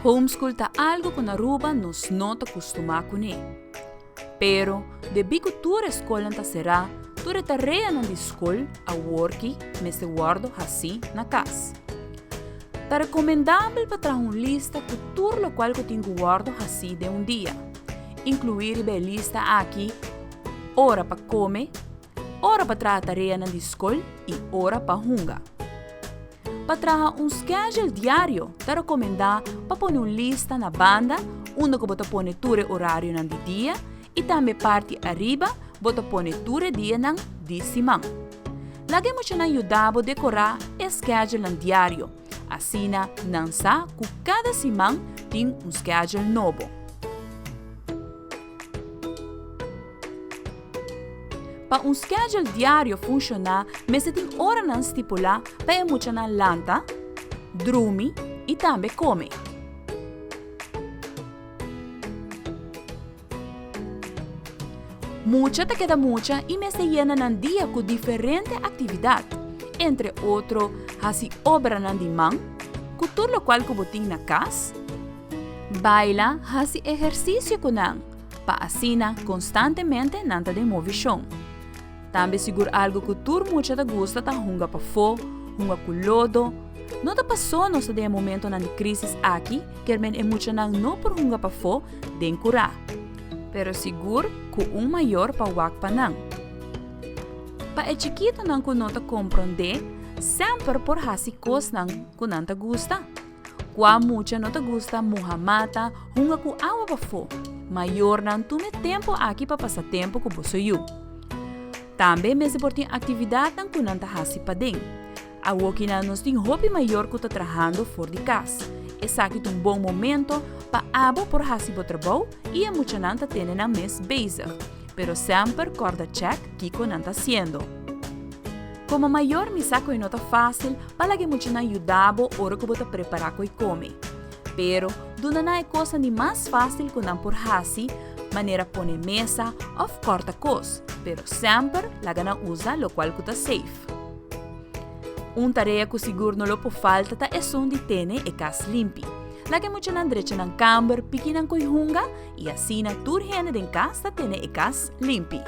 Homeschool ta algu ku na Aruba nos no ta kustumá kuné. Pero, debí ku tur e skolnan ta será, tur e tareanan di skol aworki mester wòrdu hasí na kas. Ta rekomendabel pa traha un lista ku tur lokual ku tin ku wòrdu hasí den un dia, inkluí riba e lista aki ora pa kome, Ora pa traha tareanan di skol i ora pa hunga. Pa traha un skedjel diario ta rekomendá pa pone un lista na banda unda ku bo ta pone tur e orarionan di dia i tambe parti ariba bo ta pone tur e dianan di siman. Laga e muchanan yuda bo dekorá e skedjelnan diario, asina nan sa ku kada siman tin un skedjel nobo. Pa un schedule diario funshoná mester tin oranan stipulá pa e muchanan lanta, drumi i tambe kome. Mucha ta keda mucha i mester yena nan dia ku diferente aktividat, entre otro hasi obranan di man, ku tur lokual ku bo tin na kas, Baila, hasi ehersisio ku nan, pa asina konstantemente nan ta den movishon. Tambe sigur algu ku tur mucha ta gusta ta hunga pafó, hunga ku lodo. No ta pasó nos ta den e momentonan di krísis aki ke men e muchanan no por hunga pafó den kurá. Pero sigur ku un mayor pa wak pa nan. Pa e chikitonan ku no ta komprondé, semper por hasi kosnan ku nan ta gusta. Kua mucha no ta gusta muha mata, hunga ku awa bafó? Mayornan tuma e tempu aki pa pasa tempu ku boso yu. Tambe mester por tin aktividatnan ku nan ta hasi paden. Awokinan nos tin hopi mayor ku ta trahando for di kas. Esaki ta un bon momento pa abo por hasi bo trabou i e muchanan ta tene nan mes bezig. pero semper kòrda chèk kiko nan ta siendo. Komo mayor mi sa ku e no ta fásil pa laga e muchanan yuda bo ora ku bo ta prepará ku e kome. Pero, duna nan e kosnan di mas fásil ku nan por hasi, manera pone mesa òf kòrta kos, pero semper laga nan usa lokual ku ta seif. Un tarea ku sigur no lo por falta ta esun di tene e kas limpi. Laga e muchanan drecha nan kamber, piki nan ko'i hunga y asina tur hende den cas ta tene e cas limpi.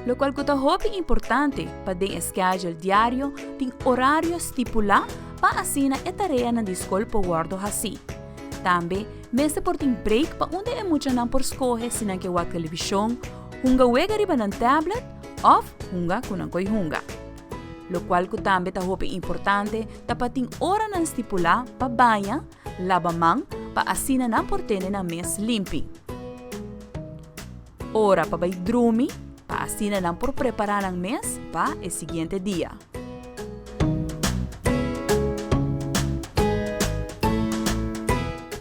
Locual cu ta hopi importante pa den e schedule diario tin horario stipula pa asina e tareanan di scol por wordo haci. Tambe mester por tin break pa unda e muchanan por scoge si nan ke wak television, hunga wega riba nan tablet of hunga cu nan koe hunga. Lokual ku tambe ta hopi importante ta pa tin oranan stipulá pa baña, laba man pa asina nan por tene nan mes limpi. Ora pa bai drumi pa asina nan por prepará nan mes pa e siguiente dia.